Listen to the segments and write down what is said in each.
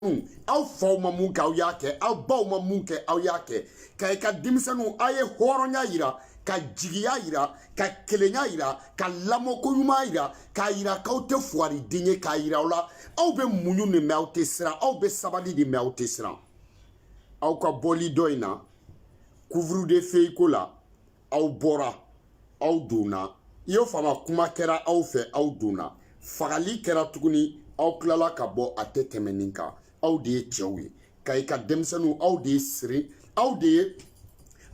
denmisɛnninw aw faw ma mun kɛ aw y'a kɛ aw baw ma mun kɛ aw y'a kɛ kayika denmisɛnninw aw ye hɔrɔnya yira ka jigiya yira ka kelenya yira ka lamɔko ɲuman yira k'a yira k'aw tɛ fugariden ye k'a yira aw la aw bɛ muɲu nin mais aw tɛ siran aw bɛ sabali nin mais aw tɛ siran aw ka bɔli dɔ in na couvre-feu ko la aw bɔra aw donna i y'o faamu kuma kɛra aw fɛ aw donna fagali kɛra tuguni aw tilala ka bɔ a tɛ tɛmɛ nin kan aw de ye cɛw ye kayika denmisɛnninw aw de ye siri aw de ye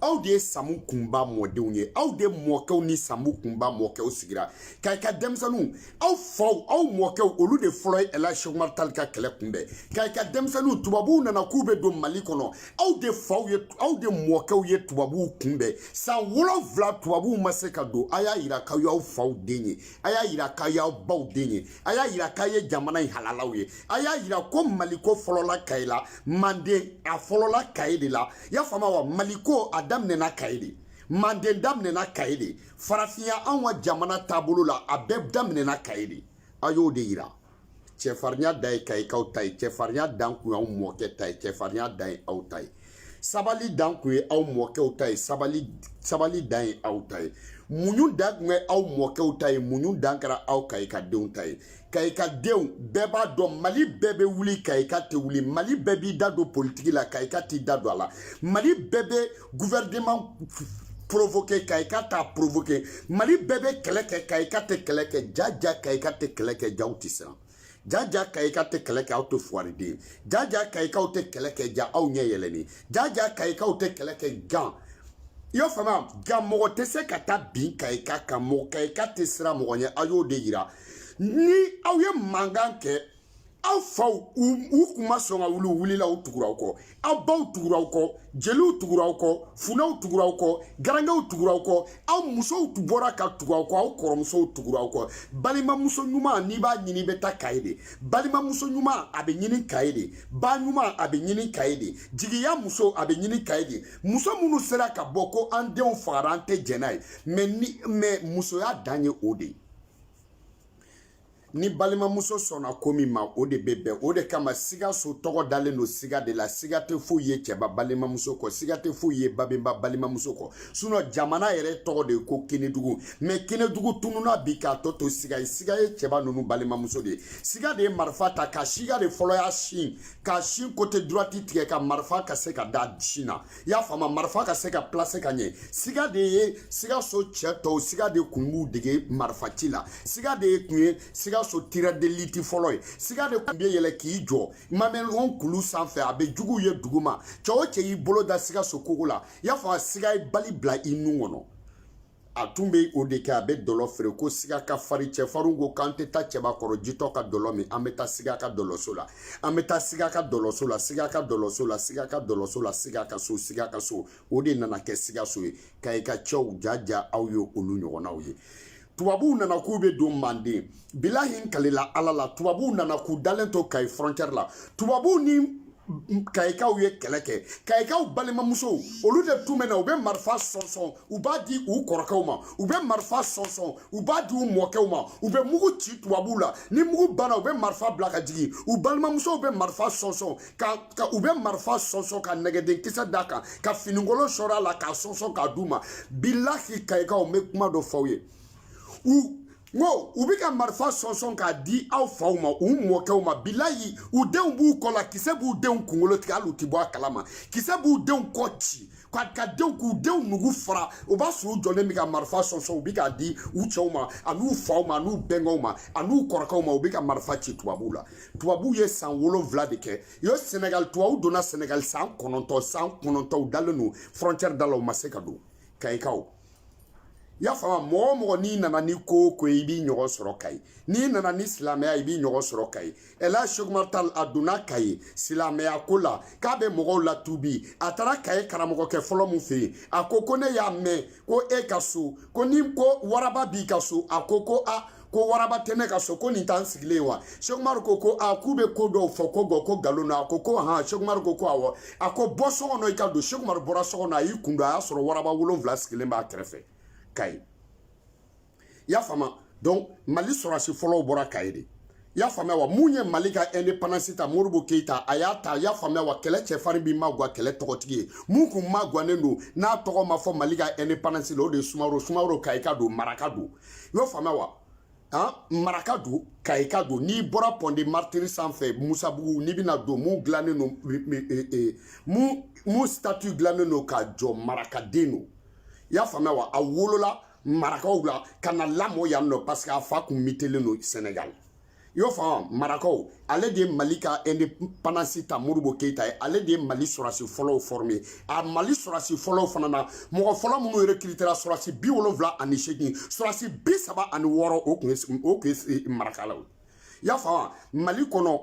aw de ye samu kunba mɔdenw ye aw de mɔkɛw ni samu kunba mɔkɛw sigira kayika denmisɛnninw aw faw aw mɔkɛw olu de fɔlɔ ye ɛlaji sɛku umaru tali ka kɛlɛ kunbɛn kayika denmisɛnninw tubabuw nana k'u bɛ don mali kɔnɔ aw de faw ye aw de mɔkɛw ye tubabuw kunbɛn san wolonfila tubabuw ma se ka don a y'a yira k'aw y'aw faw den ye a y'a yira k'aw y'aw baw den ye a y'a yira k'aw ye jamana in halalaw ye a y'a yira ko maliko fɔlɔla kayi la manden a fɔlɔla kayi de la y'a faamu wa maliko a daminɛna kayi de manden daminɛna kayi de farafinya anw ka jamana taabolo la a bɛɛ daminɛna kayi de a y'o de yira cɛfarinya dan ye kayikaw ta ye cɛfarinya dan kun y'aw mɔkɛ ta ye cɛfarinya dan ye aw ta ye sabali dan kun ye aw mɔkɛw ta ye sabali sabali dan ye aw ta ye muɲu dan kun ye aw mɔkɛw ta ye muɲu dan kɛra aw kayika denw ta ye kayika denw bɛɛ b'a dɔn mali bɛɛ bɛ wuli kayika tɛ wuli mali bɛɛ b'i da don politiki la kayika t'i da don a la mali bɛɛ bɛ gouvernement provoqué kayika t'a provoqué mali bɛɛ bɛ kɛlɛ kɛ kayika tɛ kɛlɛ kɛ jaja kayika tɛ kɛlɛ kɛ ja aw tɛ siran jaja kayika tɛ kɛlɛ kɛ aw tɛ fuwariden jaja kayikaw tɛ kɛlɛ kɛ ja aw ɲɛ yɛlɛnnen jaja kayikaw tɛ kɛlɛ kɛ nka i y'a faamuya nka mɔgɔ tɛ se ka taa bin kayika kan mɔgɔ kayika tɛ siran mɔgɔ ɲɛ aw y'o de yira ni aw ye mankan kɛ aw faw u kun ma sɔn ka wuli u wulila u tugura aw kɔ aw baw tugura aw kɔ jeliw tugura aw kɔ funɛw tugura aw kɔ garankew tugura aw kɔ aw musow bɔra ka tugu aw kɔ aw kɔrɔmusow tugura aw kɔ balimamuso ɲuman n'i b'a ɲini i bɛ taa kayi de balimamuso ɲuman a bɛ ɲini kayi de ba ɲuman a bɛ ɲini kayi de jigiya muso a bɛ ɲini kayi de muso minnu sera ka bɔ ko an denw fagara an tɛ jɛn n'a ye mais musoya dan ye o de ye ni balimamuso sɔnna ko min ma o de bɛ bɛn o de kama sikaso tɔgɔ dalen don siga de la siga tɛ foyi ye cɛba balimamuso kɔ siga tɛ foyi ye babɛnba balimamuso kɔ sinon jamana yɛrɛ tɔgɔ de ye ko kenedugu mais kenedugu tununna bi k'a tɔ to siga ye siga ye cɛba ninnu balimamuso de ye siga de ye marifa ta ka siga de fɔlɔ y'a sin ka sin côté droite tigɛ ka marifa ka se ka da sin na i y'a faamu marifa ka se ka placer ka ɲɛ siga de ye sikaso cɛ tɔw siga de kun b'u dege marifa ci la siga de ye kun ye sikaso tireur d'élite fɔlɔ ye siga de kun bɛ yɛlɛ k'i jɔ mamɛlɔn kulu sanfɛ a bɛ juguw ye duguma cɛ o cɛ y'i bolo da sikaso kogo la i y'a faamu siga ye bali bila i nun kɔnɔ a tun bɛ o de kɛ a bɛ dɔlɔ feere ko siga ka farin cɛfarinw ko k'an tɛ taa cɛbakɔrɔ jitɔ ka dɔlɔ min an bɛ taa siga ka dɔlɔso la an bɛ taa siga ka dɔlɔso la siga ka dɔlɔso la siga ka dɔlɔso la siga ka so siga ka so o de nana kɛ sikaso ye kayika cɛw jaja aw ye olu ɲɔgɔnnaw ye tubabuw nana k'u bɛ don manden bilahi n kalila ala la tubabuw nana k'u dalen to kayi frontière la tubabuw ni kayikaw ye kɛlɛ kɛ kayikaw balimamusow olu de tun bɛ na u bɛ marifa sɔnsɔn u b'a di u kɔrɔkɛw ma u bɛ marifa sɔnsɔn u b'a di u mɔkɛw ma u bɛ mugu ci tubabuw la ni mugu banna u bɛ marifa bila ka jigin u balimamusow bɛ marifa sɔnsɔn ka ka u bɛ marifa sɔnsɔn ka nɛgɛden kisɛ d'a kan ka finikolon sɔrɔ a la k'a sɔnsɔn k'a d'u ma bilahi kayikaw n bɛ kuma dɔ fɔ aw ye u n ko u bɛ ka marifa sɔnsɔn k'a di aw faw ma u mɔkɛw ma bilahi u denw b'u kɔ la kisɛ b'u denw kunkolo tigɛ hali u tɛ bɔ a kalama kisɛ b'u denw kɔ ci ka ka denw k'u denw nugu fara o b'a sɔrɔ u jɔlen bɛ ka marifa sɔnsɔn u bɛ k'a di u cɛw ma an'u faw ma an'u bɛnkɛw ma an'u kɔrɔkɛw ma u bɛ ka marifa ci tubabuw la tubabuw ye san wolonwula de kɛ u ye sɛnɛgali tubabuw donna sɛnɛgali san kɔnɔntɔn san kɔnɔntɔn u dalen don frontière da la u ma se ka don kayikaw i y'a faamu mɔgɔ o mɔgɔ n'i nana ni ko o ko ye i b'i ɲɔgɔn sɔrɔ kayi n'i nana ni silamɛya i b'i ɲɔgɔn sɔrɔ kayi ɛlaji seku umaru tal a donna kayi silamɛya ko la k'a bɛ mɔgɔw latubi a taara kayi karamɔgɔkɛ fɔlɔ min fɛ yen a ko ko ne y'a mɛn ko e ka so ko ni ko waraba b'i ka so a ko ko a ko waraba tɛ ne ka so ko nin t'an sigilen ye wa seku umaru ko ko a k'u bɛ ko dɔw fɔ ko gɔ ko nkalon na a ko ko han seku umaru ko ko awɔ a ko bɔ so kɔnɔ i ka don seku umaru bɔra so kɔnɔ a y'i kun don a y'a sɔrɔ waraba wolonwula sigilen b'a kɛrɛfɛ kayi i y'a faamu donc mali sɔrɔsi fɔlɔw bɔra kayi de i y'a faamuya wa mun ye mali ka indépendance ta modibo keyita a y'a ta i y'a faamuya wa kɛlɛ cɛfarin bi magwa kɛlɛ tɔgɔtigi ye mun kun magwanen don n'a tɔgɔ ma fɔ mali ka indépendance la o de ye sumaworo sumaworo kayika don maraka don i y'o faamuya wa an maraka don kayika don n'i bɔra pont des martyrs sanfɛ musabugu n'i bɛna don mun dilannen don mun mun statue dilannen don ka jɔ marakaden don i y'a faamuya wa a wolola marakaw la ka na lamɔ yan nɔ parce que a fa kun mutélen don sɛnɛgali i y'o faamu marakaw ale de ye mali ka indépendance ta modibo keyita ye ale de ye mali sɔrɔsi fɔlɔw former a mali sɔrɔsi fɔlɔw fana na mɔgɔ fɔlɔ minnu recrutéra sɔrɔsi bi wolonwula ani seegin sɔrɔsi bi saba ani wɔɔrɔ o tun ye o tun ye marakalaw i y'a faamu mali kɔnɔ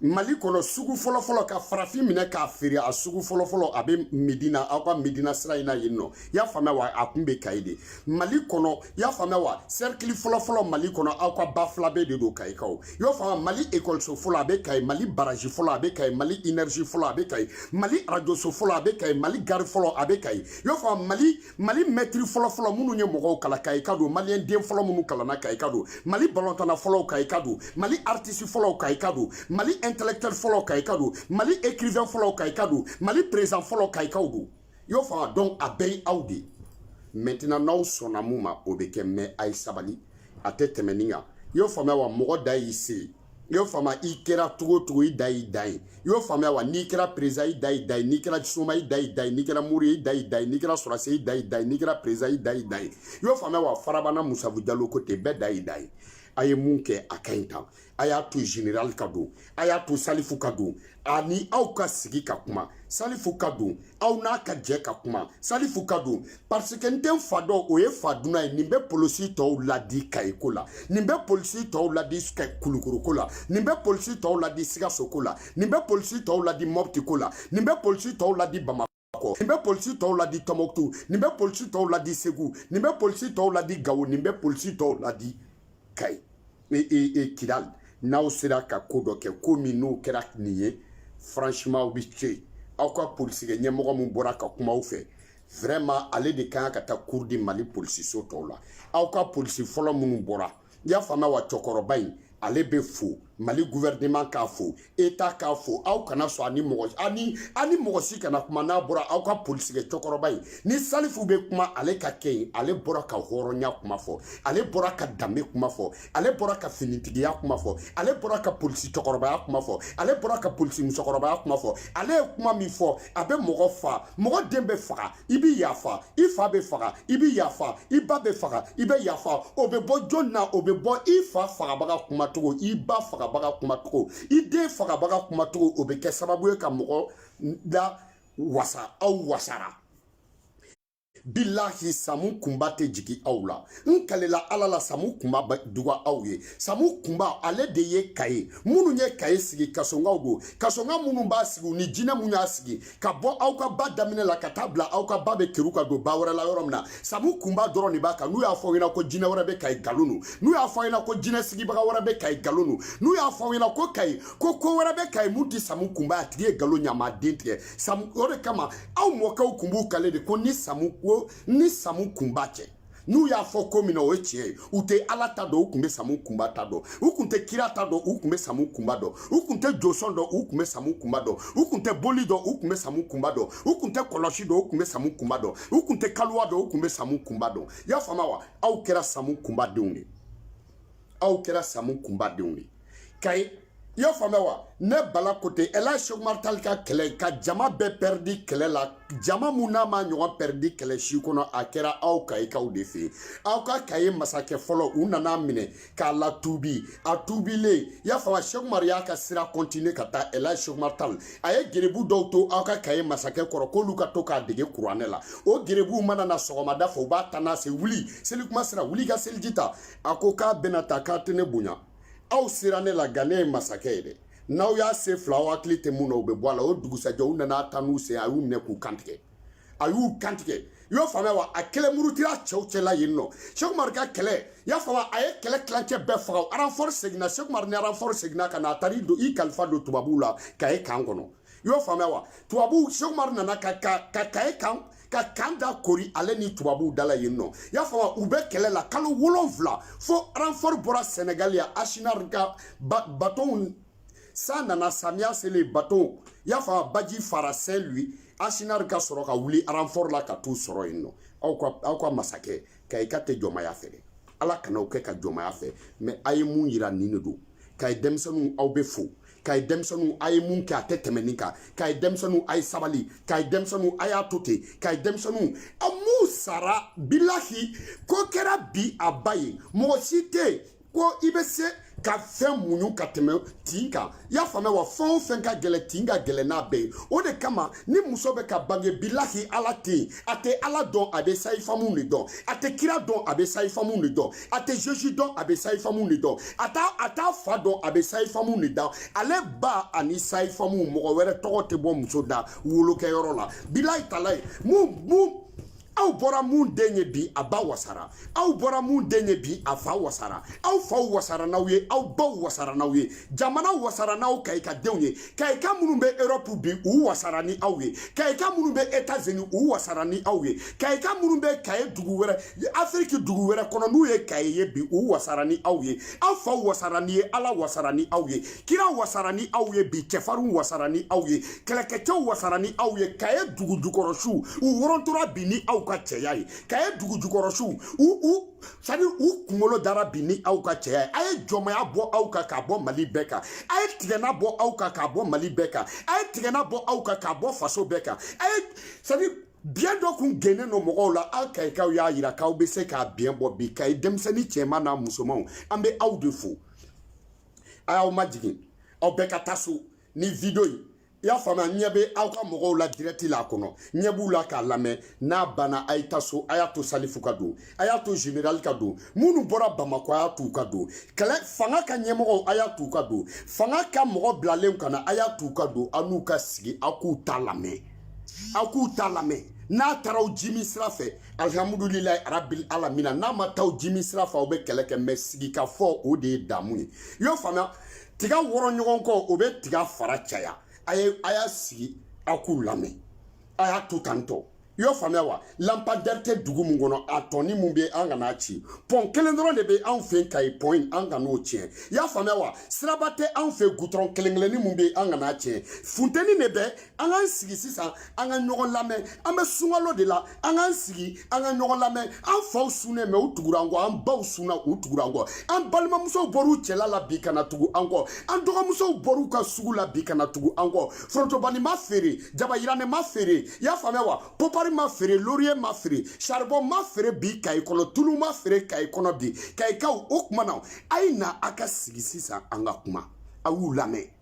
mali kɔnɔ sugu fɔlɔfɔlɔ ka farafin minɛ k'a feere a sugu fɔlɔfɔlɔ a bɛ medina aw ka medina sira in na yen nɔ y'a faamuya wa a kun bɛ kayi de mali kɔnɔ y'a faamuya wa sɛrikili fɔlɔfɔlɔ mali kɔnɔ aw ka ba fila bɛɛ de don kayikaw y'o faamuya mali ekɔliso fɔlɔ a bɛ kayi mali baraji fɔlɔ a bɛ kayi mali inɛrizi fɔlɔ a bɛ kayi mali arajoso fɔlɔ a bɛ kayi mali gari fɔlɔ a bɛ kayi y'o faamuya mali mali mɛtiri fɔlɔfɔlɔ minnu ye mɔgɔw kalan kayika don maliyɛn den fɔlɔ minnu kalanna kayika don mali balɔntanna fɔlɔw kayika don mali aritisi fɔlɔw kayika don mali intelɛktuwɛli fɔlɔ kayika don mali ekirivɛn fɔlɔw kayika don mali perezan fɔlɔw kayikaw don y'o faamuya donc a bɛɛ ye aw de ye mɛntinan n'aw sɔnna mun ma o bɛ kɛ mɛ a ye sabali a tɛ tɛmɛ nin kan y'o faamuya wa mɔgɔ da y'i se i y'o faamuya i kɛra cogo cogo i da y'i da ye i y'o faamuya wa n'i kɛra perezan i da y'i da ye n'i kɛra soma i da y'i da ye n'i kɛra mori i da y'i da ye n'i kɛra sɔrɔse i da y'i da ye n'i kɛra perezan i da y'i da ye i y'o faamuya wa farabana musabu jalo ko ten bɛɛ da y'i da ye a ye mun kɛ a ka ɲi tan a y'a to general ka don a y'a to salifu ka don ani aw ka sigi ka kuma salifu ka don aw n'a ka jɛ ka kuma salifu ka don parce que n tɛ n fa dɔn o ye fa dunan ye nin bɛ polisi tɔw ladi kayi ko la nin bɛ polisi tɔw ladi kulukoro ko la nin bɛ polisi tɔw ladi sikaso ko la nin bɛ polisi tɔw ladi mɔpti ko la nin bɛ polisi tɔw ladi bamakɔ kɔ nin bɛ polisi tɔw ladi tɔmɔkutu nin bɛ polisi tɔw ladi segu nin bɛ polisi tɔw ladi gawo nin bɛ polisi tɔw ladi kayi e e e kidali n'aw sera ka ko dɔ kɛ ko min n'o kɛra nin ye franchement aw bɛ to yen aw ka polisikɛ ɲɛmɔgɔ min bɔra ka kuma aw fɛ vraiment ale de kan ka taa cours di mali polisiso tɔw la aw ka polisi fɔlɔ minnu bɔra i y'a faamuya wa cɛkɔrɔba in ale bɛ fo mali gouvernement k'a fo etat k'a fo aw kana sɔn ani mɔgɔ ani ani mɔgɔ si kana kuma n'a bɔra aw ka polisikɛ cɛkɔrɔba in ni salifu bɛ kuma ale ka kɛ yen ale bɔra ka hɔrɔnya kuma fɔ ale bɔra ka danbe kuma fɔ ale bɔra ka finitigiya kuma fɔ ale bɔra ka polisi cɛkɔrɔbaya kuma fɔ ale bɔra ka polisi musokɔrɔbaya kuma fɔ ale ye kuma min fɔ a bɛ mɔgɔ fa mɔgɔ den bɛ faga i bɛ yafa i fa bɛ faga i bɛ yafa i ba bɛ faga i bɛ yafa o bɛ bɔ jɔn na o bɛ bɔ i fa fagabaga kumacogo i ba fagabaga kumacogo i den fagabaga kumacogo o bɛ kɛ sababu ye ka mɔgɔ lawasa aw wasara bilahi samu kunba tɛ jigi aw la n kalela ala la samu kunba duga aw ye samu kunba ale de ye kayi minnu ye kayi sigi kasonkaw don kasonka minnu b'a sigi ni jinɛ minnu y'a sigi ka bɔ aw ka ba daminɛ la ka taa bila aw ka ba bɛ keru ka don ba wɛrɛ la yɔrɔ min na samu kunba dɔrɔn de b'a kan n'u y'a fɔ aw ɲɛna ko jinɛ wɛrɛ bɛ kayi galon don n'u y'a fɔ aw ɲɛna ko jinɛ sigibaga wɛrɛ bɛ kayi galon don n'u y'a fɔ aw ɲɛna ko kayi ko ko wɛrɛ bɛ kayi mun ti samu kunba a tigi ye galon ɲama den tigɛ samu o de kama aw mɔkɛw kun b'u kale de ko ni samu ko ni samu kunba cɛ n'u y'a fɔ ko min na o ye tiɲɛ ye u tɛ ala ta dɔn u tun bɛ samu kunba ta dɔn u tun tɛ kira ta dɔn u tun bɛ samu kunba dɔn u tun tɛ josɔn dɔn u tun bɛ samu kunba dɔn u tun tɛ boli dɔn u tun bɛ samu kunba dɔn u tun tɛ kɔlɔsi dɔn u tun bɛ samu kunba dɔn u tun tɛ kaliwa dɔn u tun bɛ samu kunba dɔn i y'a faamu wa aw kɛra samu kunbadenw de aw kɛra samu kunbadenw de kayi i y'a faamuya wa ne bala kote ɛla sekumari tali ka kɛlɛ ka jama bɛɛ pɛridi kɛlɛ la jama mun n'a ma ɲɔgɔn pɛridi kɛlɛ si kɔnɔ a kɛra aw kayikaw de fɛ yen aw ka kayi masakɛ fɔlɔ u nan'a minɛ k'a latuubi a tuubilen i y'a faamuya sekumari y'a ka sira kɔntine ka taa ɛla sekumari tali a ye gerebu dɔw to aw ka kayi masakɛ kɔrɔ k'olu ka to k'a dege kuranɛ la o gerebuw mana na sɔgɔmada fɛ u b'a tan a sen wuli selikuma sera wuli ka seliji ta a ko k'a bɛn'a ta k'a tɛ ne bonya aw sera ne la nka ne ye masakɛ ye dɛ n'aw y'a se fila aw hakili tɛ mun na o bɛ bɔ a la o dugusajɛ u nan'a tan n'u sen a y'u minɛ k'u kantigɛ a y'u kantigɛ i y'o faamuya wa a kelen murutira cɛw cɛla yen nɔ sekumaru ka kɛlɛ i y'a faamu a ye kɛlɛ tilancɛ bɛɛ faga aranfɔri seginna sekumaru ni aranfɔri seginna ka na a taara i kalifa don tubabuw la kayi kan kɔnɔ i y'o faamuya wa tubabuw seku umaru nana ka ka ka kayi kan ka kan da koori ale ni tubabuw dala yen nɔ i y'a faamuya u bɛ kɛlɛ la kalo wolonfila fo ranfɔri bɔra sɛnɛgali ya asinari ka ba batonw san nana samiya selen batonw i y'a faamuya baji fara sɛn lui asinari ka sɔrɔ ka wuli ranfɔri la ka t'u sɔrɔ yen nɔ aw ka aw ka masakɛ kayika tɛ jɔnmaya fɛ dɛ ala kana o kɛ ka jɔnmaya fɛ mɛ a ye mun yira nin de don kayi denmisɛnw aw bɛ fo kayi denmisɛnw a ye mun kɛ a tɛ tɛmɛ nin kan kayi denmisɛnw a ye sabali kayi denmisɛnw a y'a to ten kayi denmisɛnw a m'u sara bilahi ko kɛra bi a ba ye mɔgɔ si tɛ yen ko i bɛ se ka fɛn muɲu ka tɛmɛ tin kan i y'a faamuya wa fɛn o fɛn ka gɛlɛn tin ka gɛlɛn n'a bɛɛ ye o de kama ni muso bɛ ka bange bilahi ala tɛ a tɛ ala dɔn a bɛ sayifamu de dɔn a tɛ kira dɔn a bɛ sayifamu de dɔn a tɛ zesu dɔn a bɛ sayifamu de dɔn a t'a a t'a fa dɔn a bɛ sayifamu de dɔn ale ba ani sayifamu mɔgɔ wɛrɛ tɔgɔ tɛ bɔ muso da wolokɛyɔrɔ la bilahi talayi mun mun aw bɔra mun den ye bi a ba wasara aw bɔra mun den ye bi a fa wasara aw faw wasara n'aw ye aw baw wasara n'aw ye jamana wasara n'aw kayika denw ye kayika minnu bɛ europe bi u wasara ni aw ye kayika minnu bɛ etats-unis u wasara ni aw ye kayika minnu bɛ kayi dugu wɛrɛ afiriki dugu wɛrɛ kɔnɔ n'u ye kayi ye bi u wasara ni aw ye aw faw wasara ni ye ala wasara ni aw ye kira wasara ni aw ye bi cɛfarinw wasara ni aw ye kɛlɛkɛcɛw wasara ni aw ye kayi dugujukɔrɔsiw u wɔrɔntora bi ni aw ka cɛya ye kayi dugujukɔrɔsiw u c'est-à-dire u kunkolo dara bi ni aw ka cɛya ye a ye jɔnmaya bɔ aw kan k'a bɔ mali bɛɛ kan a ye tigɛna bɔ aw kan k'a bɔ mali bɛɛ kan a ye tigɛna bɔ aw kan k'a bɔ faso bɛɛ kan a ye c'est-à-dire biɲɛ dɔ kun gennen don mɔgɔw la aw kayikaw y'a yira k'aw bɛ se k'a biɲɛ bɔ bi kayi denmisɛnnin cɛman n'a musomanw an bɛ aw de fo a y'aw majigin aw bɛɛ ka taa so ni video in i y'a faamuya ɲɛ bɛ aw ka mɔgɔw la dirɛti la a kɔnɔ ɲɛ b'u la k'a lamɛn n'a banna a ye taa so a y'a to salifu ka don a y'a to general ka don minnu bɔra bamakɔ a y'a t'u ka don kɛlɛ fanga ka ɲɛmɔgɔw a y'a t'u ka don fanga ka mɔgɔ bilalenw ka na a y'a t'u ka don aw n'u ka sigi aw k'u ta lamɛn aw k'u ta lamɛn n'a taara aw jimi sira fɛ alihamudulilayi arabil alamina n'a ma taa aw jimi sira fɛ aw bɛ kɛlɛ kɛ mɛ sigikafɔ o de ye damu ye i y'o faamuya tiga wɔrɔ ɲɔgɔn kɔ o bɛ tiga fara caya a y'a sigi aw k'u lamɛn a y'a to tan tɔ i y'o faamuya wa lanpadɛri tɛ dugu min kɔnɔ a tɔnin min bɛ an kan'a ci pɔn kelen dɔrɔn de bɛ anw fɛ kayi pɔn in an kan'o tiɲɛ i y'a faamuya wa siraba tɛ anw fɛ gudɔrɔn kelen kelennin min bɛ an kan'a tiɲɛ funteni de bɛ an k'an sigi sisan an ka ɲɔgɔn lamɛn an bɛ sunkalo de la an k'an sigi an ka ɲɔgɔn lamɛn an faw sunnen bɛ u tugura an kɔ an baw sunna u tugura an kɔ an balimamusow bɔr'u cɛla la bi ka na tugu an kɔ an dɔgɔmusow bɔr'u ka sugu la bi ka na tugu an kɔ forotobani ma feere jabayirannen ma feere i y'a faamuya wa popari ma feere loriye ma feere saribɔn ma feere bi kayi kɔnɔ tulu ma feere kayi kɔnɔ bi kayikaw o tuma na a ye na a ka sigi sisan an ka kuma a y'u lamɛn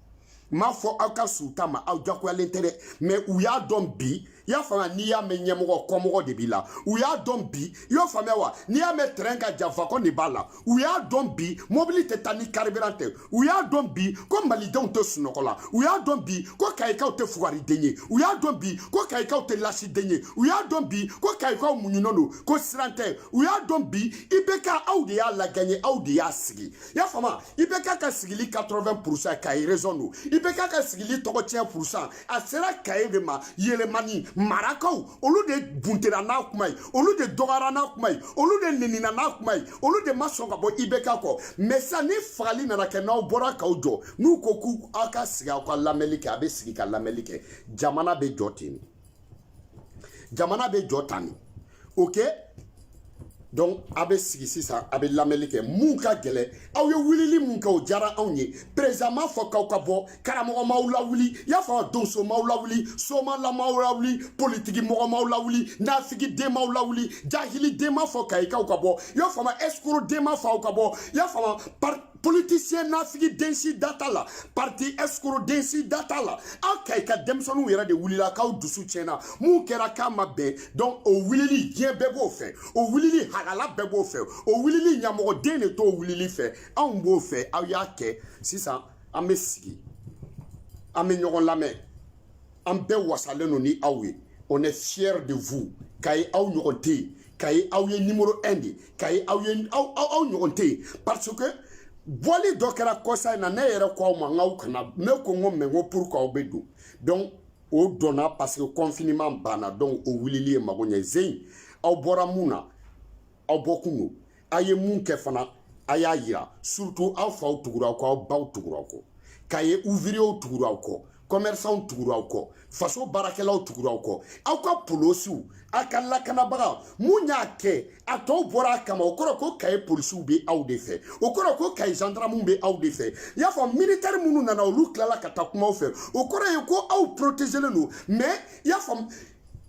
n m'a fɔ aw ka suta ma aw jagoyalen tɛ dɛ mɛ u y'a dɔn bi i y'a faamuya n'i y'a mɛn ɲɛmɔgɔ kɔmɔgɔ de b'i la u y'a dɔn bi i y'o faamuya wa n'i y'a mɛn terɛn ka jan wagɔn de b'a la u y'a dɔn bi mobili tɛ taa ni karibiran tɛ u y'a dɔn bi ko malidenw tɛ sunɔgɔ la u y'a dɔn bi ko kayikaw tɛ fugariden ye u y'a dɔn bi ko kayikaw tɛ lasiden ye u y'a dɔn bi ko kayikaw muɲunen don ko siran tɛ u y'a dɔn bi ibk aw de y'a lagaɲɛ aw de y'a sigi i y'a faamu ibk ka sigili quatre-vingt pourcent kayi raison don ibk ka sigili tɔgɔ tiɲɛ pourcent a sera kayi de ma yɛlɛmani marakaw olu de buntera n'a kuma ye olu de dɔgɔyara n'a kuma ye olu de nenina n'a kuma ye olu de ma sɔn ka bɔ ibk kɔ mɛ sisan ni fagali nana kɛ n'aw bɔra k'aw jɔ n'u ko k'u aw ka sigi aw ka lamɛnni kɛ a bɛ sigi ka lamɛnni kɛ jamana bɛ jɔ ten de jamana bɛ jɔ tan de oke donc a bɛ sigi sisan a bɛ lamɛnni kɛ mun ka gɛlɛn aw ye wulili min kɛ o diyara anw ye perezidan m'a fɔ k'aw ka bɔ karamɔgɔ m'aw lawuli i y'a faamu donso m'aw lawuli somala m'aw lawuli politiki mɔgɔ m'aw lawuli nafigi den m'aw lawuli jahili den m'a fɔ kayikaw ka bɔ i y'a faamu ɛsikoro den m'a fɔ aw ka bɔ i y'a faamu politisiyɛn nafigi den si da t'a la parti escroc den si da t'a la aw kayi ka denmisɛnninw yɛrɛ de wulila k'aw dusu tiɲɛna mun kɛra k'a ma bɛn donc o wulili diɲɛ bɛɛ b'o fɛ o wulili halala bɛɛ b'o fɛ o wulili ɲamɔgɔden de t'o wulili fɛ anw b'o fɛ aw y'a kɛ sisan an bɛ sigi an bɛ ɲɔgɔn lamɛn an bɛɛ wasalen don ni aw ye on est fier de vous kayi aw ɲɔgɔn tɛ yen kayi aw ye numéro 1 de kayi aw ye aw aw aw ɲɔgɔn tɛ yen parce que bɔli dɔ kɛra kɔsa in na ne yɛrɛ ko aw ma n k'aw kana ne ko n ko mais n ko pour que aw bɛ don donc o donna parce que confinement banna donc o wulili ye mago ɲɛ jeunes aw bɔra mun na aw bɔkun don a ye mun kɛ fana a y'a yira surtout aw faw tugura aw kɔ aw baw tugura aw kɔ kaye ouvriers tugura aw kɔ commerçants tugura aw kɔ faso baarakɛlaw tugura aw kɔ aw ka polosiw a ka lakanabaga mun y'a kɛ a tɔw bɔra a kama o kɔrɔ ko kaye polisiw bɛ aw de fɛ o kɔrɔ ko kaye gendarmew bɛ aw de fɛ i y'a fɔ militɛri minnu nana olu tilala ka taa kuma aw fɛ o kɔrɔ ye ko aw protégelen don mais i y'a faamu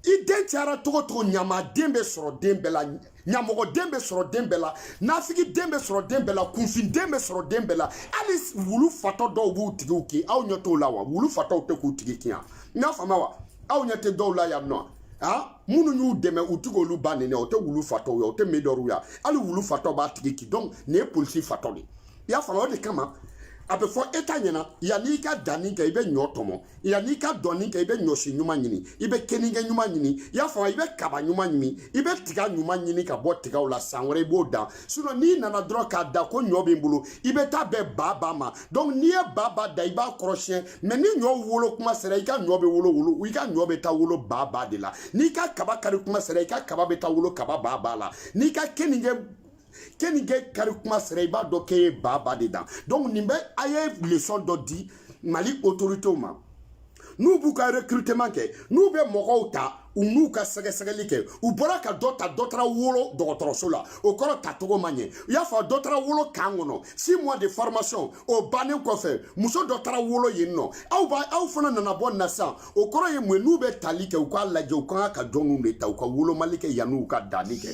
i den cayara togo togo ɲamaden bɛ sɔrɔ den bɛɛ la ɲamɔgɔden bɛ sɔrɔ den bɛɛ la nafigiden bɛ sɔrɔ den bɛɛ la kunfinden bɛ sɔrɔ den bɛɛ la hali wulu fatɔ dɔw b'u tigiw kin aw ɲɛ t'o la wa wulu fatɔw tɛ k'u tigi kin yan n y'a faamuya wa aw ɲɛ tɛ dɔw la yan nɔ a minnu y'u dɛmɛ u ti k'olu ba nɛni o tɛ wulu fatɔw ye o tɛ medɔrw ya hali wulu fatɔ b'a tigi kin donc nin ye polisi fatɔ de ye i y'a faamu o de kama a bɛ fɔ état ɲɛ na yanni i ka danni kɛ i bɛ ɲɔ tɔmɔ yanni i ka danni kɛ i bɛ ɲɔsi ɲuman ɲini i bɛ keninge ɲuman ɲini i y'a faamu i bɛ kaba ɲuman ɲini i bɛ tiga ɲuman ɲini ka bɔ tigaw la san wɛrɛ i b'o dan sinon n'i nana dɔrɔn k'a dan ko ɲɔ b'i bolo i bɛ taa bɛn ba ba ma donc n'i ye ba ba dan i b'a kɔrɔsiyɛn mais ni ɲɔ wolo kuma sera i ka ɲɔ bɛ wolo wolo i ka ɲɔ bɛ taa wolo ba ba de la n'i ka kaba kari kuma sera i ka kaba bɛ taa wolo kaba ba ba la n'i ka keninge keninge kari kuma sera i b'a dɔn k'e ye ba ba de dan donc nin bɛɛ a ye leçon dɔ di mali autoritéw ma n'u b'u ka recrutement kɛ n'u bɛ mɔgɔw ta u n'u ka sɛgɛsɛgɛli kɛ u bɔra ka dɔ ta dɔ taara wolo dɔgɔtɔrɔso la o kɔrɔ tacogo ma ɲɛ u y'a fɔ dɔ taara wolo camp kɔnɔ six mois de formation o bannen kɔfɛ muso dɔ taara wolo yen nɔ aw b'a aw fana nana bɔ nin na sisan o kɔrɔ ye mun n'u bɛ tali kɛ u k'a lajɛ u kan ka jɔnw de ta u ka wolomali kɛ yanni u ka danni kɛ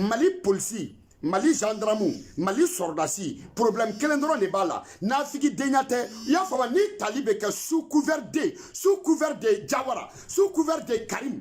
mali polisi mali gendarmu mali sɔrɔdasi problème kelen dɔrɔn de b'a la nafigi denya tɛ i y'a faamuya ni tali bɛ kɛ sous couvert de sous couvert de jawara sous couvert de karim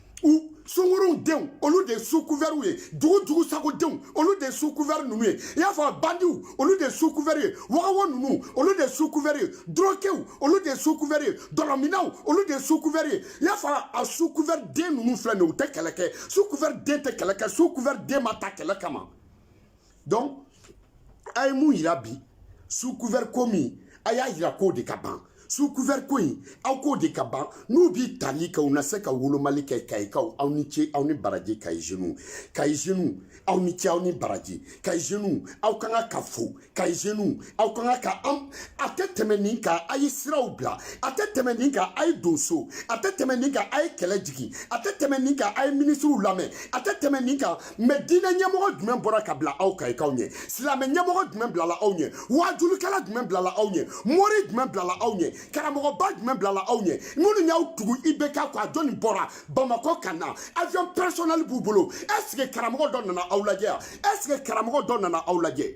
u sungurunw denw olu de ye sous couvertw ye dugu jugusagodenw olu de ye sous couvert ninnu ye i y'a fɔ bandiw olu de ye sous couvert ye vagabond ninnu olu de ye sous couvert ye droguéw olu de ye sous couvert ye dɔlɔminnaw olu de ye sous couvert ye i y'a fɔ a sous couvert den ninnu filɛ nin ye u tɛ kɛlɛ kɛ sous couvert den tɛ kɛlɛ kɛ sous couvert den ma ta kɛlɛ kama donc a ye mun yira bi sous couvert ko min a y'a yira k'o de ka ban sous couvert ko in aw k'o de ka ban n'u b'i tali kɛ u na se ka wolomali kɛ kayikaw aw ni ce aw ni baraji kayi jeunes kayi jeunes aw ni ce aw ni baraji kayi jeunes aw ka kan ka fo kayi jeunes aw ka kan ka an a tɛ tɛmɛ nin kan a ye siraw bila a tɛ tɛmɛ nin kan a ye don so a tɛ tɛmɛ nin kan a ye kɛlɛ jigin a tɛ tɛmɛ nin kan a ye minisiriw lamɛn a tɛ tɛmɛ nin kan mais diinɛ ɲɛmɔgɔ jumɛn bɔra ka bila aw kayikaw ɲɛ silamɛ ɲɛmɔgɔ jumɛn bilala aw ɲɛ wajulukɛla jumɛn bilala aw ɲɛ mori jumɛn bilala aw ɲɛ karamɔgɔba jumɛn bilala aw ɲɛ minnu y'aw tugu IBK kɔ a jɔni bɔra bamakɔ ka na avion personnel b'u bolo est-ce que karamɔgɔ dɔ nana aw lajɛ yan est-ce que karamɔgɔ dɔ nana aw lajɛ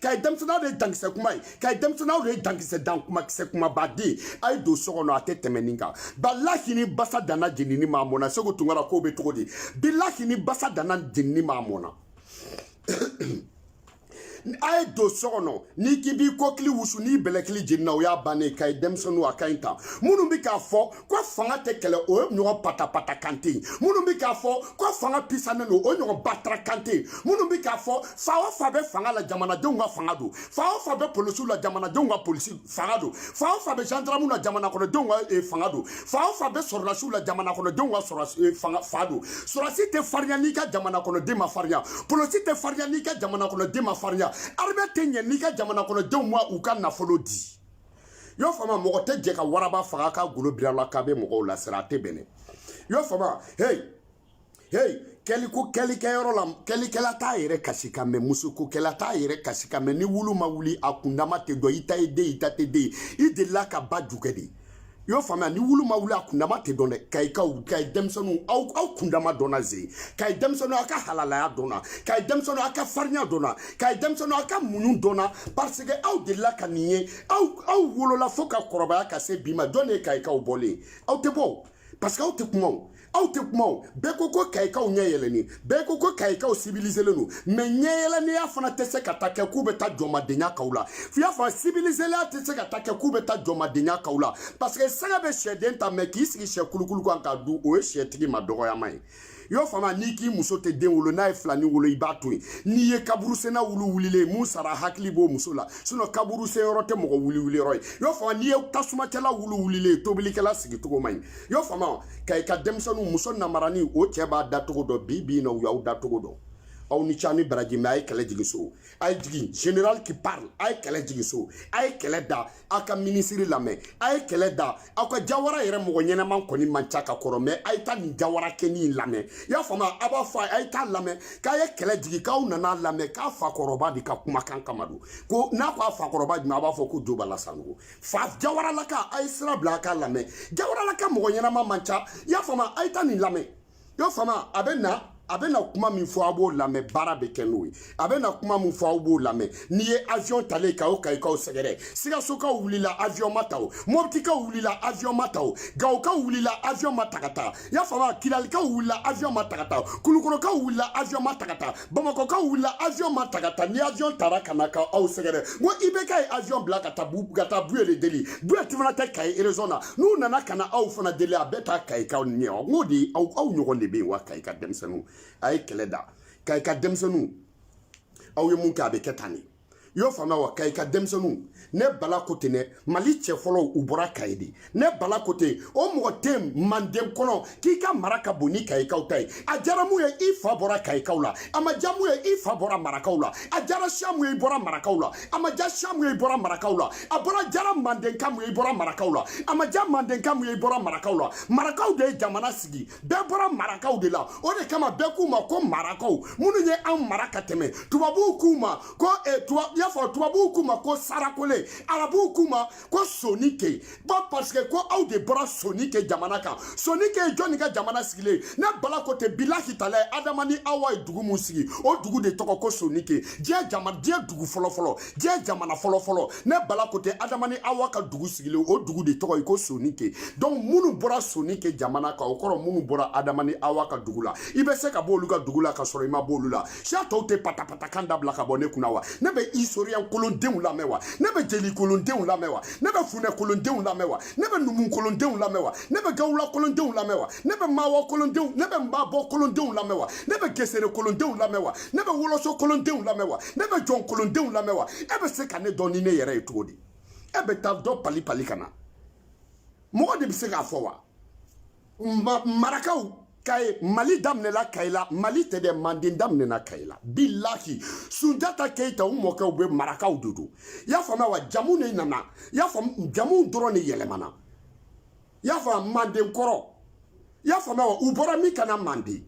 kayi denmisɛnninw aw de ye dankisɛ kuma ye kayi denmisɛnninw aw de ye dankisɛ dan kuma kisɛ kumabaden a ye don so kɔnɔ a tɛ tɛmɛ nin kan bilahi ni basa danna jenini ma mɔna segu tunkara k'o bɛ cogo di bilahi ni basa danna jenini ma mɔna a ye don so kɔnɔ n'i k'i b'i kɔkili wusu n'i bɛlɛkili jenina o y'a bannen kayi denmisɛnninw a ka ɲi tan minnu bɛ k'a fɔ ko fanga tɛ kɛlɛ o ɲɔgɔn patapata kan tɛ yen minnu bɛ k'a fɔ ko fanga pisanen don o ɲɔgɔn batara kan tɛ yen minnu bɛ k'a fɔ fa o fa bɛ fanga la jamanadenw ka fanga don fa o fa bɛ polisiw la jamanadenw ka polisi fanga don fa o fa bɛ zandaramu la jamanakɔnɔdenw ka eh, fanga don fa o fa bɛ sɔrɔdasiw la jamanakɔnɔdenw ka sɔrɔdasi eh, fanga fa don sɔrɔdasi tɛ farinya n'i ka jamanakɔnɔden ma farinya polisi tɛ farinya n'i ka jamanakɔnɔden ma farinya armée tɛ ɲɛ n'i ka jamanakɔnɔdenw ma u ka nafolo di y'a faamu mɔgɔ tɛ jɛ ka waraba faga ka golo biri a la k'a bɛ mɔgɔw lasiran a tɛ bɛn dɛ y'a faamu hey hey kɛliko kɛlikɛyɔrɔ la kɛlikɛla t'a yɛrɛ kasikan mɛn musokokɛla t'a yɛrɛ kasikan mɛn ni wulu ma wuli a kundama tɛ dɔn i ta ye den i ta tɛ den i delila ka ba jukɛ de i y'o faamuya ni wulu ma wuli a kundama tɛ dɔn dɛ kayikaw kayi denmisɛnninw aw aw kundama dɔnna ze kayi denmisɛnninw aw ka halalaya dɔnna kayi denmisɛnninw aw ka farinya dɔnna kayi denmisɛnninw aw ka muɲu dɔnna parce que aw delila ka nin ye aw aw wolola fo ka kɔrɔbaya ka se bi ma jɔn de ye kayikaw bɔlen aw tɛ bɔ parce que aw tɛ kuma o aw tɛ kuma o bɛɛ ko ko kayikaw ɲɛ yɛlɛni bɛɛ ko ko kayikaw sibiliselen don mais ɲɛ yɛlɛniya fana tɛ se ka ta kɛ k'u bɛ taa jɔnmadenya k'aw la f'i y'a fɔ sibiliseliya tɛ se ka ta kɛ k'u bɛ taa jɔnmadenya k'aw la parce que sɛgɛ bɛ sɛden ta mais k'i sigi sɛ kulukulu kan k'a dun o ye sɛtigi ma dɔgɔyama ye y'o faamu n'i k'i muso tɛ den wolo n'a ye filani wolo i b'a to yen n'i ye kaburusenna wulu wulilen ye min sara hakili b'o muso la sinon kaburusen yɔrɔ tɛ mɔgɔ wulu wuli yɔrɔ ye y'o faamu n'i ye tasumacɛla wulu wulilen ye tobilikɛla sigicogo man ɲi y'o faamu kayika denmisɛnninw muso namarani o cɛ b'a dacogo dɔn bi bi in na u y'aw dacogo dɔn aw ni ce aw ni baraji mais a ye kɛlɛ jigin so a ye jigin général qui parle a ye kɛlɛ jigin so a ye kɛlɛ da a ka minisiri lamɛn a ye kɛlɛ da aw ka jawara yɛrɛ mɔgɔ ɲɛnama kɔni man ca ka kɔrɔ mɛ a ye taa nin jawarakɛnin in lamɛn i y'a faamu a b'a fɔ a ye taa lamɛn k'a ye kɛlɛ jigin k'aw nana lamɛn k'a fakɔrɔba de ka kumakan kama don ko n'a ko a fakɔrɔba jumɛn a b'a fɔ ko jo bala sanɔgɔ fa jawaralaka a ye sira bila a k'a lamɛn jawaralaka mɔgɔ ɲɛnama man ca i y'a faamu a ye taa nin lamɛn y'a faamuya a bɛ na a bɛ na kuma min fɔ aw b'o lamɛn baara bɛ kɛ n'o ye a bɛ na kuma min fɔ aw b'o lamɛn n'i ye avion talen ka aw kayikaw sɛgɛrɛ sikasokaw wulila avion ma ta o mɔbitikaw wulila avion ma ta o gawokaw wulila avion ma ta ka taa y'a faamuya kilalikaw wulila avion ma ta ka taa kulukɔrɔkaw wulila avion ma ta ka taa bamakɔkaw wulila avion ma ta ka taa ni avion tara ka na ka aw sɛgɛrɛ n ko ibk ye avion bila ka taa bu ka taa buye de deli buye ti fana tɛ kayi erezɔn na n'u nana ka na aw fana deli a bɛɛ taa kayikaw ɲɛ n k'o de aw aw ɲɔgɔn de bɛ yen wa kayika denmisɛnninw a ye kɛlɛ da kayika denmisɛnninw aw ye mun kɛ a bɛ kɛ tan de i y'o faamuya wa kayika denmisɛnninw ne bala ko ten dɛ mali cɛ fɔlɔw u bɔra kayi de ne bala ko ten o mɔgɔ tɛ manden kɔnɔ k'i ka mara ka bon ni kayikaw ta ye a diyara mun ye i fa bɔra kayikaw la a ma diya mun ye i fa bɔra marakaw la a diyara siya mun ye i bɔra marakaw la a ma diya siya mun ye i bɔra marakaw la a bɔra diyara mandenka mun ye i bɔra marakaw la a ma diya mandenka mun ye i bɔra marakaw la marakaw de ye jamana sigi bɛɛ bɔra marakaw de la o de kama bɛɛ k'u ma ko marakaw minnu ye anw mara ka tɛmɛ tubabuw k'u ma ko eh, y'a fɔ tubabuw k'u ma ko sarakole arabuw k'u ma ko soninke ba paseke ko aw de bɔra soninke jamana kan soninke ye jɔnni ka jamana sigilen ne bala ko ten bilahi talayi adama ni awa ye dugu mun sigi o dugu de tɔgɔ ko soninke diɲɛ jama diɲɛ dugu fɔlɔfɔlɔ diɲɛ jamana fɔlɔ fɔlɔ ne bala ko ten adama ni awa ka dugu sigilen o dugu de tɔgɔ ye ko soninke donc minnu bɔra soninke jamana kan o kɔrɔ minnu bɔra adama ni awa ka dugu la i bɛ se ka bɔ olu ka dugu la ka sɔrɔ i ma bɔ olu la siya tɔw tɛ patapatakan dabila ka bɔ ne kunna wa ne bɛ historien kolondenw lamɛn wa ne bɛ jeli kolondenw lamɛn wa ne bɛ funɛ kolondenw lamɛn wa ne bɛ numu kolondenw lamɛn wa ne bɛ gawula kolondenw lamɛn wa ne bɛ maawɔ kolondenw ne bɛ maabɔ kolondenw lamɛn wa ne bɛ gesere kolondenw lamɛn wa ne bɛ woloso kolondenw lamɛn wa ne bɛ jɔn kolondenw lamɛn wa e bɛ se ka ne dɔn ni ne yɛrɛ ye cogo di e bɛ taa dɔ pali pali ka na mɔgɔ de bɛ se k'a fɔ wa ma marakaw kayi mali daminɛla kayi la mali tɛ dɛ manden daminɛna kayi la bilahi sunjata keyita u mɔkɛw bɛɛ marakaw de don i y'a faamuya wa jamu de nana i y'a faamu jamuw dɔrɔn de yɛlɛmana i y'a fɔ manden kɔrɔ i y'a faamuya wa u bɔra min ka na manden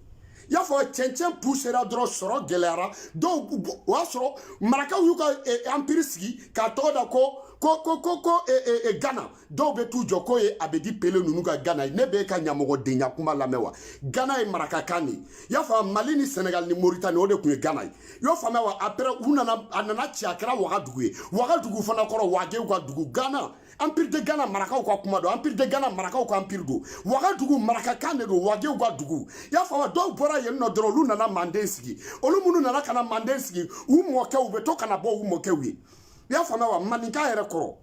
i y'a fɔ cɛncɛn pusera dɔrɔn sɔrɔ gɛlɛyara dɔw o y'a sɔrɔ marakaw y'u ka anpiri sigi k'a tɔgɔ da ko ko ko ko ko e, e, e, gana dɔw bɛ t'u jɔ k'o ye abedi pele ninnu ka gana ye ne bɛ e ka ɲamɔgɔdenya kuma lamɛn wa gana ye marakakan de ye i y'a fɔ mali ni sɛnɛgali ni moritani o de tun ye gana ye i y'o faamuya wa après u nana a nana ci a kɛra wagadugu ye wagadugu fana kɔrɔ wagew ka dugu gana empire de gana marakaw ka kuma don empire de gana marakaw ka empire don wagadugu marakakan de don wagew ka dugu i y'a faamu dɔw bɔra yen nɔ dɔrɔn olu nana manden sigi olu minnu nana ka na manden sigi u mɔkɛw u bɛ to ka na bɔ u mɔkɛw ye i y'a faamuya wa maninka yɛrɛ kɔrɔ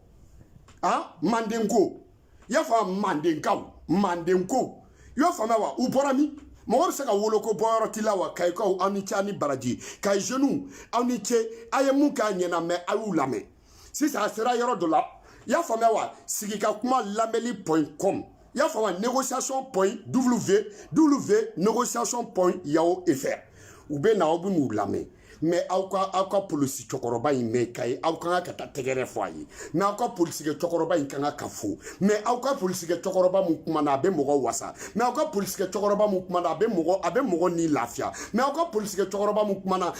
a mandenko i y'a faamu mandenkaw mandenko i y'a faamuya wa u bɔra min mɔgɔ bɛ se ka wolo ko bɔyɔrɔ t'i la wa kayikaw aw ni ce aw ni baraji kayi jeunes aw ni ce a ye mun k'a ɲɛna mɛ a y'u lamɛn sisan a sera yɔrɔ dɔ la i y'a faamuya wa sigi ka kuma lamɛnli point com i y'a faamuya négociation point w w négociation point yahoo fr u bɛ na aw bɛ n'u lamɛn mɛ aw ka aw ka polisi cɛkɔrɔba in mɛ kayi aw ka kan ka taa tɛgɛrɛ fɔ a ye mɛ aw ka polisikɛ cɛkɔrɔba in ka kan ka fo mɛ aw ka polisikɛ cɛkɔrɔba min kumana a bɛ mɔgɔ wasa mɛ aw ka polisikɛ cɛkɔrɔba min kumana a bɛ mɔgɔ a bɛ mɔgɔ ni lafiya mɛ aw ka polisikɛ cɛkɔrɔba min kumana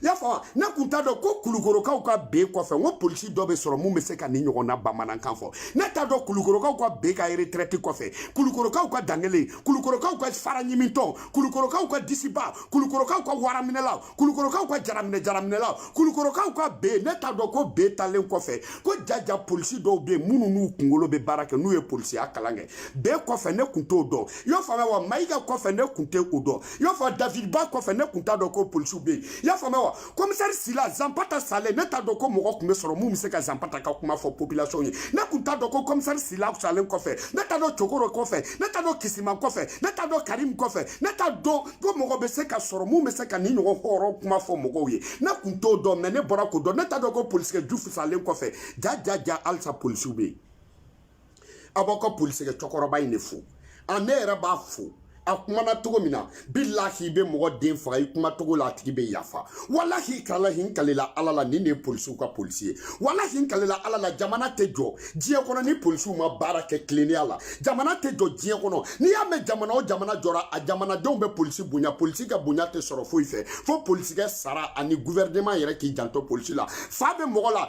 i y'a faamu ne kun t'a dɔn ko kulukorokaw ka ben kɔfɛ n ko polisi dɔ bɛ sɔrɔ mun bɛ se ka nin ɲɔgɔnna bamanankan fɔ ne t'a dɔn kulukorokaw ka ben ka retraite kɔfɛ kulukorokaw ka dankelen kulukorokaw ka fara ɲimintɔ kulukorokaw ka disiba kulukorokaw ka waraminɛlaw kulukorokaw ka jaraminɛ jaraminɛlaw kulukorokaw ka ben ne t'a dɔn ko ben taalen kɔfɛ ko jaja polisi dɔw bɛ yen minnu n'u kunkolo bɛ baara kɛ n'u ye polisiya kalan kɛ ben kɔfɛ ne kun t'o dɔn i y'o faamuya wa mayiga kɔfɛ ne kun tɛ o dɔn i y'a fɔ david ba kɔfɛ ne kun t'a dɔn ko polisiw bɛ yen i y'a faamuya wa komisɛri sila zanpata salen ne t'a dɔn ko mɔgɔ tun bɛ sɔrɔ mun bɛ se ka zanpata ka kuma fɔ population ye ne kun t'a dɔn ko komisɛri sila salen kɔfɛ ne t'a dɔn cokoro kɔfɛ ne t'a dɔn kisiman kɔfɛ ne t'a dɔn karim kɔfɛ ne t'a dɔn ko mɔgɔ bɛ se ka sɔrɔ mun bɛ se ka nin ɲɔgɔn hɔrɔn kuma fɔ mɔgɔw ye ne kun t'o dɔn mɛ ne bɔra k'o dɔn ne t'a dɔn ko polisikɛ jufu salen kɔfɛ ja ja ja halisa polisiw bɛ yen a b'aw ka polisikɛ cɛkɔrɔba in de fo a ne yɛrɛ b'a fo a kumana cogo min na bilahi i bɛ mɔgɔ den faga i kuma cogo la a tigi bɛ yafa walahi talahi n kalela ala la nin de ye polisiw ka polisi ye walahi n kalela ala la jamana tɛ jɔ diɲɛ kɔnɔ ni polisiw ma baara kɛ tilennenya la jamana tɛ jɔ diɲɛ kɔnɔ n'i y'a mɛn jamana o jamana jɔra a jamanadenw bɛ polisi bonya polisi ka bonya tɛ sɔrɔ foyi fɛ fo polisikɛ sara ani guvɛrɛneman yɛrɛ k'i janto polisi la fa bɛ mɔgɔ la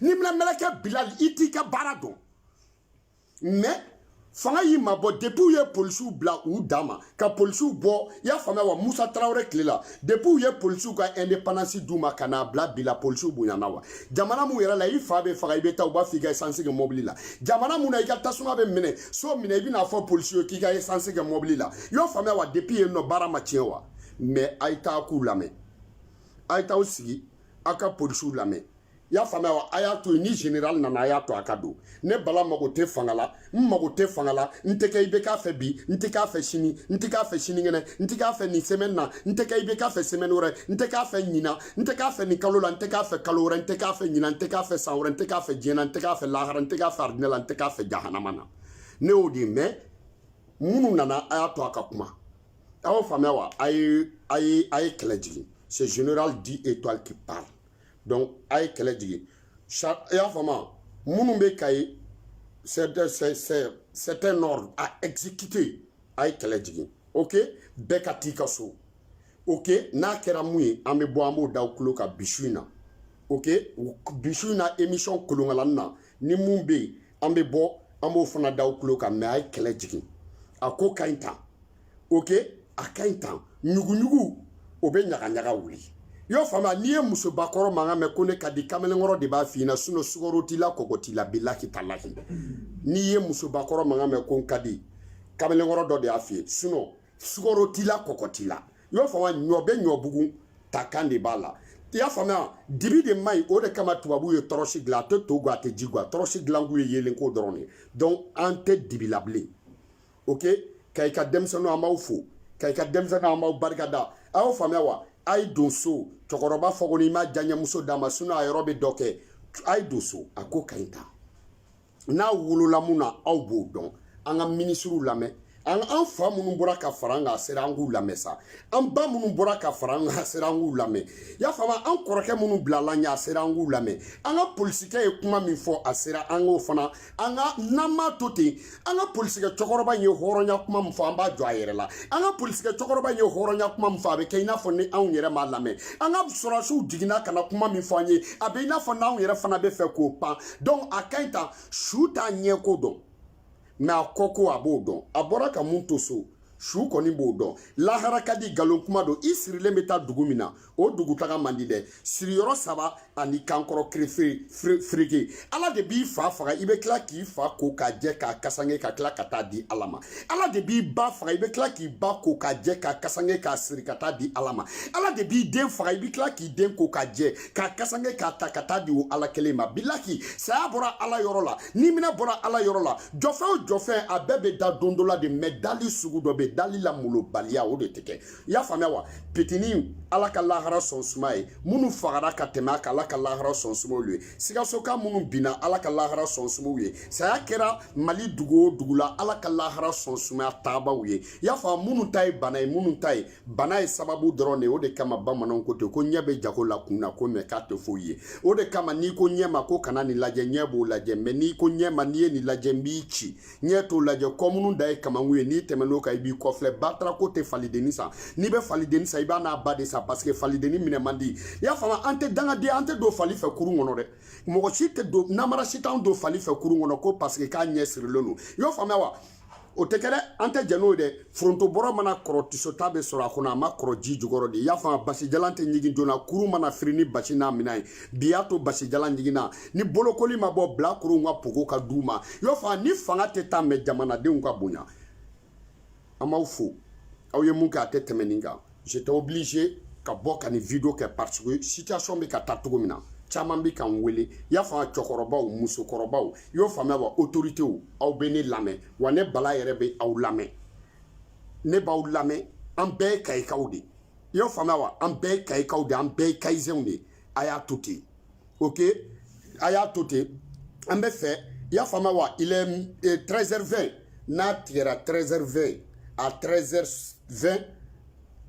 niminamɛlɛkɛ bilali i t'i ka baara dɔn mɛ fanga y'i mabɔ depi u ye polisiw bila u dan ma ka polisiw bɔ i y'a faamuya wa musa tarawele tile la depi u ye polisiw ka independance d'u ma ka n'a bila bi la polisiw bonyana wa jamana mun yɛrɛ la i fa bɛ faga i bɛ taa u b'a fɔ i ka esansi kɛ mɔbili la jamana mun na i ka tasuma bɛ minɛ so minɛ i bɛna fɔ polisiw ye k'i ka esansi kɛ mɔbili la i y'o faamuya wa depi yen nɔ baara ma tiɲɛ wa mɛ a ye taa k'u lamɛn a ye taa aw sigi aw ka polisiw lamɛn i y'a faamuya wa a y'a to yen ni general nana a y'a to a ka don ne bala mago tɛ fanga la n mago tɛ fanga la n tɛ kɛ i bɛ k'a fɛ bi n tɛ k'a fɛ sini n tɛ k'a fɛ sinikɛnɛ n tɛ k'a fɛ nin semaine na n tɛ kɛ i bɛ k'a fɛ semaine wɛrɛ n tɛ k'a fɛ ɲinan n tɛ k'a fɛ nin kalo la n tɛ k'a fɛ kalo wɛrɛ n tɛ k'a fɛ ɲinan n tɛ k'a fɛ san wɛrɛ n tɛ k'a fɛ diɲɛ na n tɛ k'a fɛ lahara n tɛ k'a fɛ aridinɛ la n tɛ k'a fɛ jahanama na ne y'o de mɛn minnu nana a y'a to a ka kuma a y'o faamuya wa a ye a ye a ye kɛlɛ jigin c'est général dix étoiles qui parle donc a ye kɛlɛ jigin i y'a faamu minnu bɛ kayi c'est un ordre à exécuter a ye kɛlɛ jigin ok bɛɛ ka t'i ka so ok n'a kɛra mun ye an bɛ bɔ an b'o d'aw tulo kan bi su in na ok bi su in na émission kolonkalanni na ni mun bɛ yen an bɛ bɔ an b'o fana d'aw tulo kan mɛ a ye kɛlɛ jigin a ko ka ɲi tan ok a ka ɲi tan ɲuguɲugu o bɛ ɲagaɲaga wuli i y'o faamuya n'i ye musobakɔrɔ mankan mɛn ko ne ka di kamalenkɔrɔ de b'a f'i ɲɛna sinɔ sukaro t'i la kɔgɔ t'i la bilahi talahi n'i ye musobakɔrɔ mankan mɛn ko n ka di kamalenkɔrɔ dɔ de y'a f'i ye sinɔ sukaro t'i la kɔgɔ t'i la i y'o faamuya ɲɔ bɛ ɲɔ bugun ta kan de b'a la i y'a faamuya dibi de man ɲi o de kama tubabuw ye tɔrɔsi dilan a tɛ to gwan a tɛ ji gwan tɔrɔsi dilankun ye yeelenko dɔrɔn de ye donc an tɛ dibi la bilen ok kayika denmisɛnninw an b'aw fo kayika denmisɛnninw an b'aw barika da a y'o faamuya wa a ye don so cɛkɔrɔba fɔ ko n'i ma diyaɲɛmuso d'a ma sinɔn a yɔrɔ bɛ dɔ kɛ a ye don so a ko ka ɲi tan n'a wolola mun na aw b'o dɔn an ka minisiriw lamɛn an an fa minnu bɔra ka fara an kan a sera an k'u lamɛn sa an ba minnu bɔra ka fara an kan a sera an k'u lamɛn y'a faamu an kɔrɔkɛ minnu bilala ɲɛ a sera an k'u lamɛn an ka polisikɛ ye kuma min fɔ a sera an k'o fana an ka n'an m'a to ten an ka polisikɛ cɛkɔrɔba in ye hɔrɔnya kuma min fɔ an b'a jɔ a yɛrɛ la an ka polisikɛ cɛkɔrɔba in ye hɔrɔnya kuma min fɔ a bɛ kɛ i n'a fɔ ni anw yɛrɛ m'a lamɛn an ka sɔrɔdasiw jiginna ka na kuma min fɔ an ye a bɛ i n'a fɔ n'anw yɛrɛ fana bɛ fɛ k'o pan donc a ka ɲi tan su t'a ɲɛko dɔn mɛ a kɔko a b'o dɔn a bɔra ka mun to so su kɔni b'o dɔn lahara ka di nkalon kuma don i sirilen bɛ taa dugu min na o dugu taga man di dɛ siriyɔrɔ saba ani kankɔrɔ kirifiriki ala de b'i fa faga i bɛ tila k'i fa ko k'a jɛ k'a kasange ka tila ka taa di ala ma ala de b'i ba faga i bɛ tila k'i ba ko k'a jɛ k'a kasange k'a siri ka taa di ala ma ala de b'i den faga i bɛ tila k'i den ko k'a jɛ k'a kasange k'a ta ka taa di o ala kelen ma bilahi saya bɔra ala yɔrɔ la ni mina bɔra ala yɔrɔ la jɔfɛn o jɔfɛn a bɛɛ bɛ da don dɔ la de mɛ dali sugu dɔ bɛ dali la molobaliya o de tɛ kɛ i y'a faamuya wa pitini ala ka lahara sɔn suma ye minnu fagara ka tɛmɛ a kan ala ka lahara sɔn suma u ye sikasoka minnu binna ala ka lahara sɔn suma u ye saya kɛra mali dugu o dugu la ala ka lahara sɔn sumaya taabaw ye i y'a faamu minnu ta ye bana ye minnu ta ye bana ye sababu dɔrɔn de ye o de kama bamananw ko ten ko ɲɛ bɛ jago la kun na ko mɛ k'a tɛ foyi ye o de kama n'i ko ɲɛ ma ko kana nin lajɛ ɲɛ b'o lajɛ mɛ n'i ko ɲɛ ma n'i ye nin lajɛ n b'i ci ɲɛ t'o lajɛ kɔmunu dan ye kamankun ye n'i tɛmɛn'o kan i b'i kɔfilɛ batara ko tɛ falidenni san n'i bɛ falidenni san i b'a n'a ba de san paseke falidenni minɛ man di i y'a faamu an tɛ dangaden an tɛ don fali fɛ kurun kɔnɔ dɛ mɔgɔ si tɛ don namara si t'anw don fali fɛ kurun kɔnɔ ko paseke k'a ɲɛ sirilen don i y'o faamuya wa o tɛ kɛ dɛ an tɛ jɛn n'o ye dɛ foronto bɔrɔ mana kɔrɔ tisota bɛ sɔrɔ a kɔnɔ a ma kɔrɔ ji jukɔrɔ de i y'a faamu basijalan tɛ ɲigin joona kurun mana firi ni basi n'a minɛn ye bi y'a to basijalan ɲiginna ni bolokoli ma bɔ bilakorow ka pogo ka d'u ma i y'a faamu ni fanga tɛ taa mɛ jamanadenw ka bonya an b'aw fo aw ye mun kɛ a tɛ tɛmɛ nin kan j'étais obligé ka bɔ ka nin video kɛ parce que situation bɛ ka taa cogo min na caman bɛ k'an wele i y'a faamu cɛkɔrɔbaw musokɔrɔbaw i y'o faamuya wa autorités aw bɛ ne lamɛn wa ne bala yɛrɛ bɛ aw lamɛn ne b'aw lamɛn an bɛɛ ye kayikaw de i y'o faamuya wa an bɛɛ ye kayikaw de an bɛɛ ye kayizenw de a y'a to ten ok a y'a to ten an b'a fɛ i y'a faamuya wa il est 13h20 n'a tigɛra 13h20 à 13h20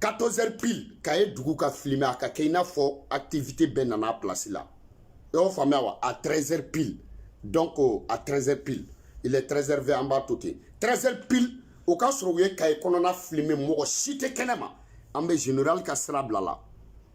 14h pile kaye dugu ka filime a ka kɛ i n'a fɔ activité bɛɛ nana a place la i y'o faamuya wa à 13h pile donc à 13h pile il est 13h20 an b'a to ten 13h pile o k'a sɔrɔ u ye kaye kɔnɔna filime mɔgɔ si tɛ kɛnɛ ma an bɛ général ka sira bila la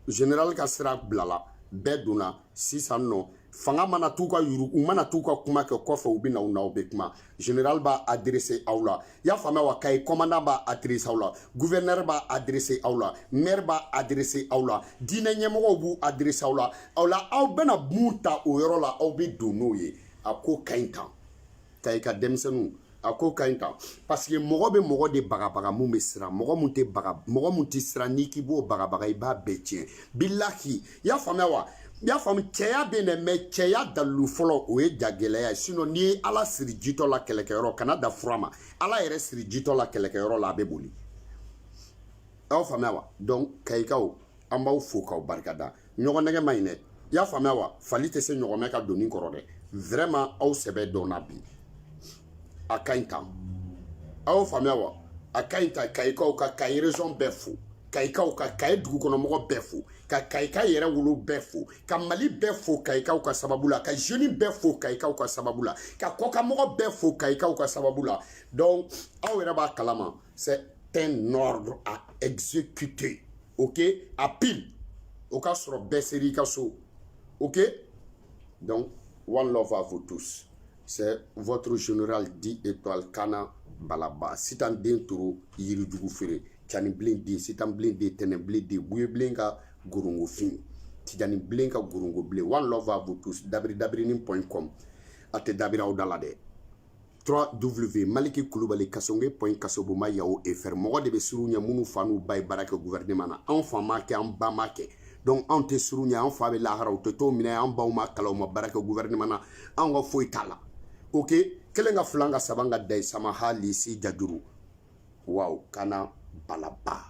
general ka sira bilala bɛɛ donna sisan nɔ fanga mana t'u ka yuru u mana t'u ka kuma kɛ kɔfɛ u bɛ na u n'aw bɛ kuma general b'a adresse aw la i y'a faamuya wa kayi commandant b'a adresse aw la gouverneur b'a adresse aw la maire b'a adresse aw la diinɛ ɲɛmɔgɔw b'u adresse aw la aw la aw bɛna mun ta o yɔrɔ la aw bɛ don n'o ye a ko ka ɲi tan kayi ka denmisɛnninw a ko ka ɲi tan parce que mɔgɔ bɛ mɔgɔ de bagabaga mun bɛ siran mɔgɔ mun tɛ baga mɔgɔ mun tɛ siran n'i k'i b'o bagabaga i b'a bɛɛ tiɲɛ bilahi i y'a faamuya wa i y'a faamu cɛya bɛ yen dɛ mais cɛya dalilu fɔlɔ o ye jagɛlɛya ye sinon n'i ye ala siri jitɔ la kɛlɛkɛyɔrɔ kana da fura ma ala yɛrɛ siri jitɔ la kɛlɛkɛyɔrɔ la a bɛ boli aw y'o faamuya wa donc kayikaw an b'aw fo k'aw barikada ɲɔgɔn nɛgɛn man ɲi dɛ i y'a faamuya wa fali tɛ se ɲɔgɔmɛ ka doni kɔrɔ dɛ vraiment aw sɛbɛ dɔnna bi a ka ɲi tan aw y'o faamuya wa a ka ɲi tan kayikaw ka kayi région bɛɛ fo kayikaw ka kayi dugukɔnɔmɔgɔ bɛɛ fo ka kayika yɛrɛwolo bɛɛ fo ka mali bɛɛ fo kayikaw ka sababu la ka jeune bɛɛ fo kayikaw ka sababu la ka kɔkanmɔgɔ bɛɛ fo kayikaw ka sababu la donc aw yɛrɛ b'a kalama c'est un ordre à exécuter ok à pile o ka sɔrɔ bɛɛ ser'i ka so ok donc one love à vous tous c'est votre général dix étoiles kana balaba sitan den toro yirijugu feere cani bilen den sitan bilen den tɛnɛ bilen den buye bilen ka gorongo fin tijani bilen ka gorongo bilen one love à vous tous dabiri dabirinin point com a tɛ dabiri aw da la dɛ 3W Maliki Kulubali Kasonge point Kasoboma yahoo fr mɔgɔ de bɛ siran u ɲɛ minnu fa n'u ba ye baara kɛ gouvernement na anw fa m'a kɛ an ba m'a kɛ donc anw tɛ siran u ɲɛ anw fa bɛ lahara u tɛ t'o minɛ yen an baw ma kalan u ma baara kɛ gouvernement na anw ka foyi t'a la ok kelen ka filan ka saban ka dayi sama halisi jajuru waaw kana balaba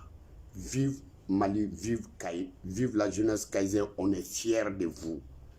vive Mali vive Kayi vive la jeunesse kayésienne on est fier de vous